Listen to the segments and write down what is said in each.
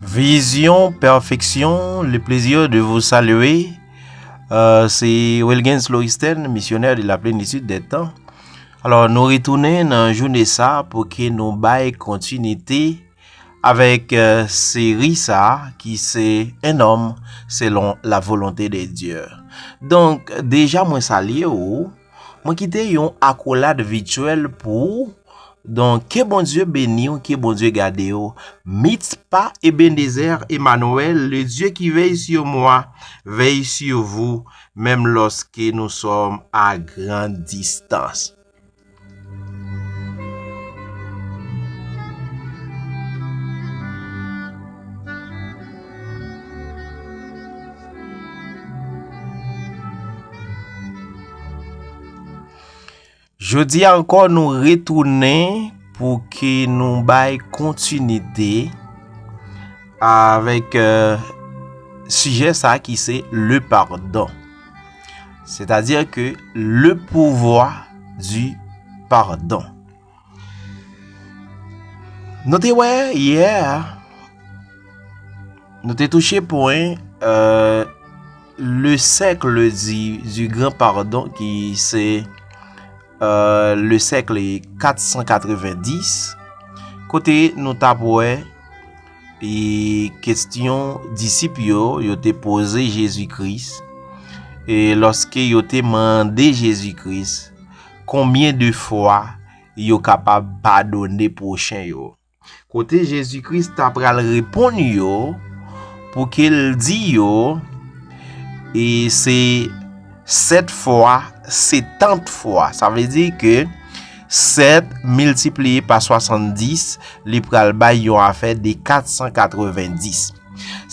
Vision Perfection, le plaisir de vous saluer. Euh, se Wilgens Loristen, misyonè de la plenitude des temps. Alors, nou retounen nan joune sa pou ke nou bay kontinite avèk euh, seri sa ki se Un homme selon la volonté de Dieu. Donk, deja mwen salye ou, Mwen kite yon akolad vityèl pou ou Don ke Bondye beniw ke Bondye gadew Mitspa Ebenezer Emmanuel le Dieu qui veille sur moi veille sur vous menm loske nou som a grand distance. Jodi ankò nou retounen pou ke nou bay kontinite avèk euh, sijè sa ki se le pardon. Se ta di ke le pouvwa di pardon. Nou te wè yè a, nou te touche pwen euh, le sèkle di gran pardon ki se euh, le sèkle 490, kote nou ta wè, E kestyon disip yo yo te poze Jezi Kris, e lòske yo te mande Jezi Kris konbyen de fwa yo kapab padone pwochen yo. Kote Jezi Kris ta pral reponn yo pou ke l di yo, e se sèt fwa setant fwa. Sa vle di ke. 7 miltipliye pa 70, li pral bay yon afè de 490.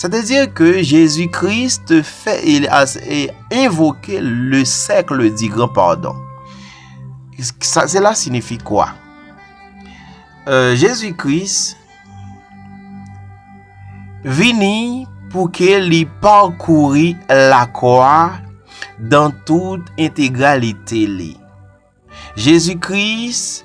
Sè te dire ke Jezi Kris te fè e envoke le sèkle di gran padon. Sa se la sinifi kwa? Jezi Kris vini pou ke li pakouri la kwa dan tout entegralite li. Jezi Kris,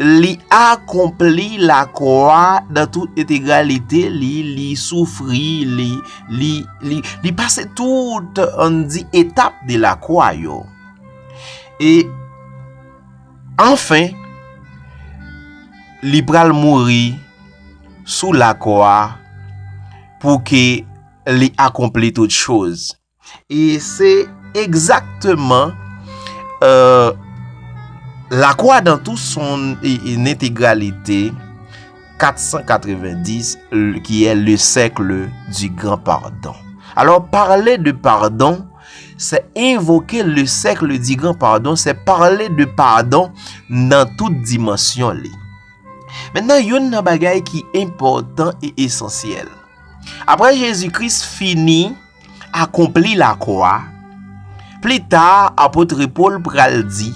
li akonpli lakwa nan tout entegralite li, li soufri, li pase tout an di etap de lakwa yo. E, anfen, li pral mouri sou lakwa pou ke li akonpli tout chouz. E se egzakteman La Croix dans tout son integralite 490 ki e le cercle du grand pardon. Alors parle de pardon se invoke le cercle du grand pardon, se parle de pardon nan tout dimansyon li. Mennan yon nan bagay ki important e esansyel. Apre Jezi Kris fini. akonpli lakò a, plita apot Pòl pral di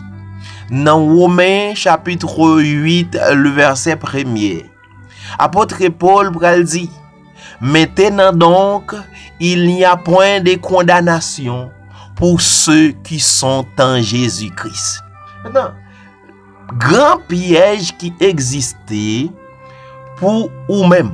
nan Women chapitre 8 le vèsè premye, apot Pòl pral di, Mentenan donk, il n'y a point de kondanasyon pou se ki son an Jezi Kris. Metan, gran pyèj ki egziste pou ou menm.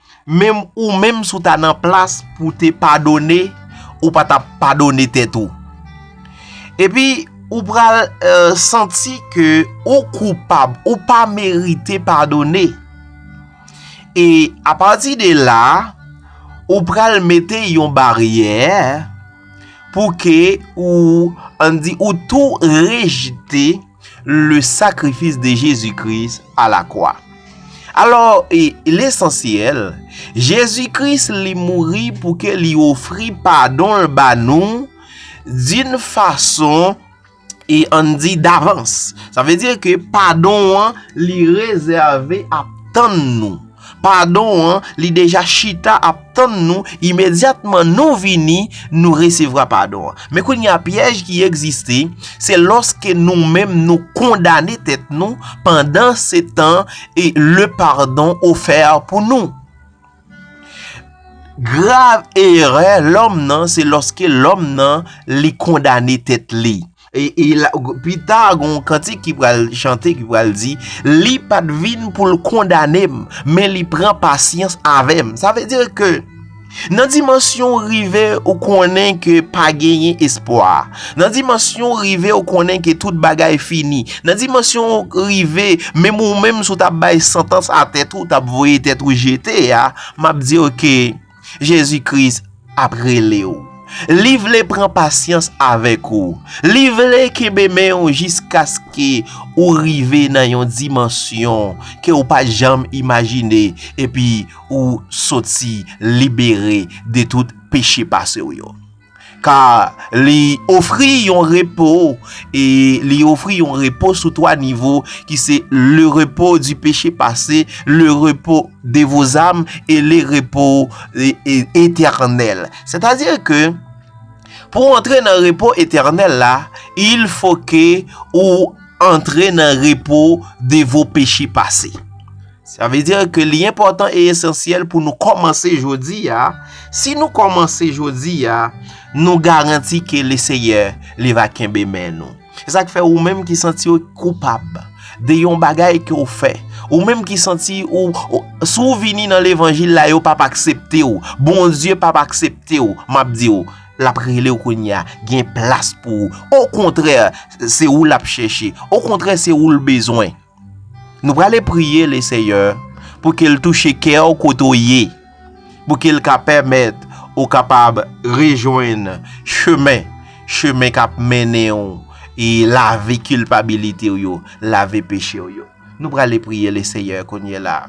Menm ou menm si w ta nan plas pou w te padone, ou pa t ap padone tèt ou. Epi, ou pral santi ke ou koupab, ou pa merite padone. E apati de la, ou pral mete yon baryè pou ke ou, an di, ou tou rejte. Le sakrifis de Jezi Kris a la kwa. Alò, e lesansyèl, Jezi Kris li mouri pou ke li ofri padon l ba nou d'un fason e an di davans. Sa vle di ke padon an li rezève ap tann nou. Padon an li deja chita ap tann nou imedyatman nou vini nou resevra padon an. Men kounye a pyèj ki egziste se lòske nou menm nou kondane tèt nou pandan se tan e le pardon ofè pou nou. Grav erè lòm nan se lòske lòm nan li kondane tèt li. Pita gen yon kantik ki pral chante ki pral di Li pat vin pou l kondane m Men li pran pasyans avè m Sa vle dire ke Nan dimansyon rive ou konnen ke pa genyen espwa Nan dimansyon rive ou konnen ke tout bagay fini Nan dimansyon rive menm ou menm sou ta bay santans a tèt ou ta voye tèt ou jete a M ap dire ke Jezi Kris ap rele w. Li vle pran pasyans avèk ou. Li vle kenbe men w jiskaske ou rive nan yon dimansyon ke ou pa janm imajine epi ou soti libere de tout peche pase w yo. Ka li ofri yon repo e li ofri yon repo sou 3 nivo ki se le repo di peche pase, le repo de vo zam e le repo etènèl. Sètadi ke pou antre nan repo etènèl la, il fo ke ou antre nan repo de vo peche pase. Sa vle dire ke li enpòtan e esansyèl pou nou kòmanse jodi a, si nou kòmanse jodi a, nou garanti ke le Seyè li va kenbe men nou. Se sa k fè ou menm ki santi ou koupab de yon bagay ke ou fè, ou menm ki santi ou, si ou vini nan levanjil la yo pap aksepte ou, Bondye pap aksepte ou, m ap di ou, l ap rele ou kounye a, gen plas pou ou, o kontrè se ou l ap chèche, o kontrè se ou l bezwen. Nou prale priye le Seyè pou ke l touche kè w kote w ye, pou ke l ka pèmèt ou kapab rejwenn chemen, chemen k ap mennen w e lave kilpabilite w yo, lave peche w yo. Nou prale priye le Seyè kounyela.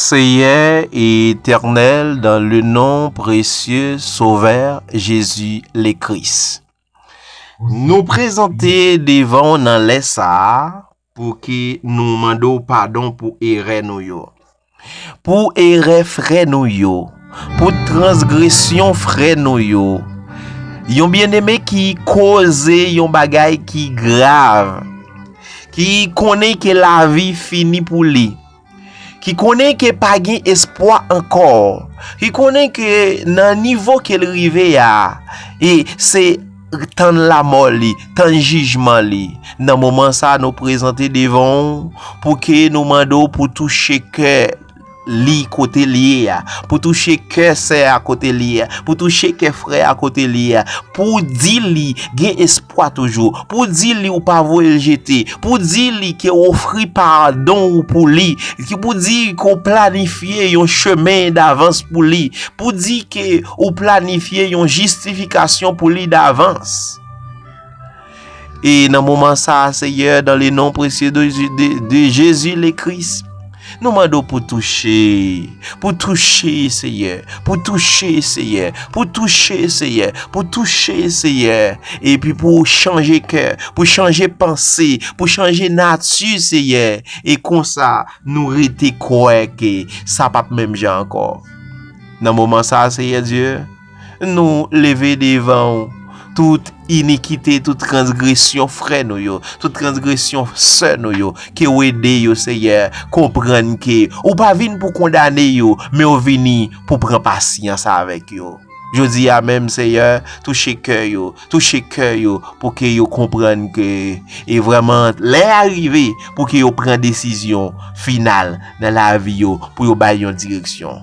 Seyè e Etènèl dan le non presye Sovè Jezi le Kris. Nou prezante devan w nan lè sa a, Pouki nou mande w padon pou erè nou yo. Pou erè frè nou yo. Pou transgresyon frè nou yo. Yon byeneme ki koze yon bagay ki grav. Ki konnen ke lavi fini pou li. Ki konnen ke pa gen espwa ankò. Ki konnen ke nan nivo ke l rive a, e se tann lamò li, tann jijman li. Nan moman sa nou prezante devan ou pou ke nou mande ou pou touche kè li kote li ye a. Pou touche kè sè a kote li ye a. Pou touche kè frè a kote li ye a. Pou di li gen espwa. Pwa toujou. Pou di li ou pa voye l jete. Pou di li ke w ofri padon ou pou li. Ki pou di ke w planifye yon chemen davans pou li. Pou di ke w planifye yon jistifikasyon pou li davans. E nan moman sa, Seyè, dan le non presye de Jezi le Kris. Nou mande w pou touche, pou touche Seyè, pou touche Seyè, pou touche Seyè, pou touche Seyè, epi pou w chanje kè, pou chanje panse, pou chanje nati Seyè, e konsa nou rete kwè ke sa pap menm jan ankò. Nan moman sa Seyè Dye. Nou leve devan ou tout inikite, tout transgresyon frè nou yo, tout transgresyon sè nou yo, ke ou ede yo, Seyè, konprann ke ou pa vin pou kondane yo, men ou vini pou pran pasyans avèk yo. Jodi a menm, Seyè, touche kè yo, touche kè yo pou ke yo konprann ke e vreman lè a rive pou ke yo pran desizyon final nan lavi yo pou yo bay yon direksyon.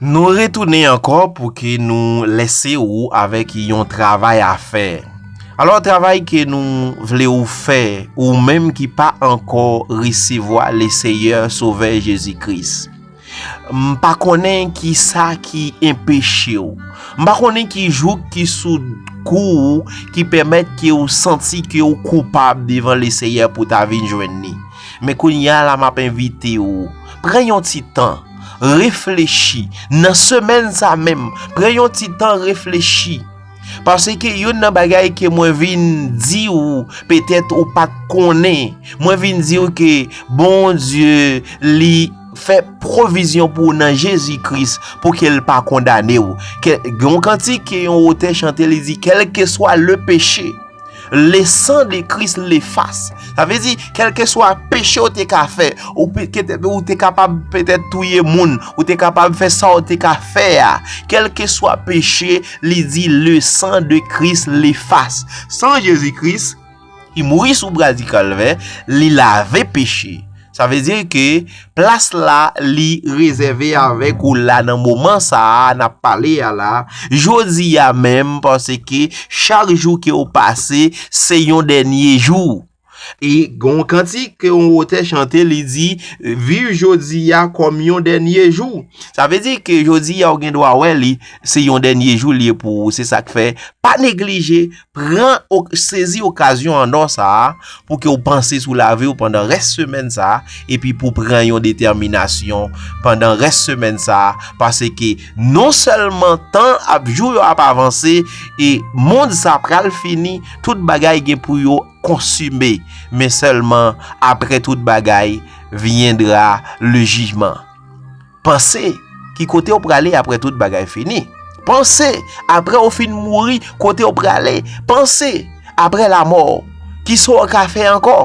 Nou retounen ankò pou ke nou lese ou avèk yon travay a fè. Alò travay ke nou vle ou fè ou menm ki pa ankò resevwa le Seyè Sovè Jezi Kris. M pa konnen ki sa ki enpeche w. M pa konnen ki jouk ki sou kou ou ki pèmèt ke ou santi ke ou koupab devan le Seyè pou ta vin jwenn ni. Men kounye a la m ap envite ou, pran yon ti tan, reflechi, nan semèn sa menm, pran yon ti tan reflechi. Paske youn nan bagay ke mwen vin di ou, petèt ou pa konnen, mwen vin di ou ke bon Dieu li fè provizyon pou ou nan Jezi Kris pou ke l pa kondane ou. Ke yon kantik ke yon otè chante li di, kelke swa le peche. Le san de kris le fas. Sa ve di, kelke swa peche ou te ka fe, ou te kapab pete touye moun, ou te kapab fe sa ou te ka fe a, kelke swa peche, li di le san de kris le fas. San Jezi kris, ki mouri sou bradikal ve, li lave peche. Sa vle di ke plas la li rezève avèk ou la nan moman sa a na pale a la, jodi a menm panse ke chak jou ke ou pase se yon dènye jou. E gon kantik ke yon otè chante li di, viv jodi a kòm yon dènye jou. Sa vle di ke jodi a ou gen dwa wè li se yon dènye jou li ye pou ou. Se sa k fè pa neglije Pran ok, sezi okazyon an or sa a pou ke ou panse sou lavi ou pandan rès semèn sa a epi pou pran yon detèminasyon pandan rès semèn sa a pase ke non sèlman tan ap jou yo ap avanse e mond sa pral fini tout bagay gen pou yo konsime men sèlman apre tout bagay viendra le jijman. Panse, ki kote ou prale apre tout bagay fini? Panse, apre ou fin mouri, kote ou prale? Panse, apre lamò, ki sa ou ka fè ankò?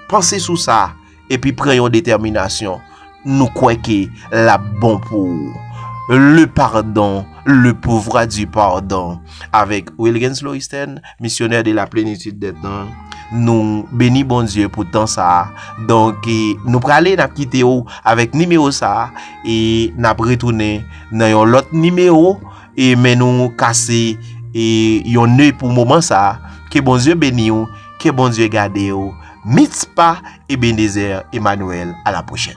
Panse sou sa, epi pran yon detèminasyon, nou kwè ke l ap bon pou ou. Le pardon, le pouvoir du pardon, avèk Wilgens Loïsten. Misyonè de la plenitid de tan Nou beni Bondye pou tan sa a Donk nou prale n ap kite ou avèk nimewo sa a E n ap retounen nan yon lòt nimewo E men nou kase e yon ne pou moman sa a Ke Bondye beni ou Ke Bondye gade ou Mitspa Ebenezer Emmanuel a la prochèn.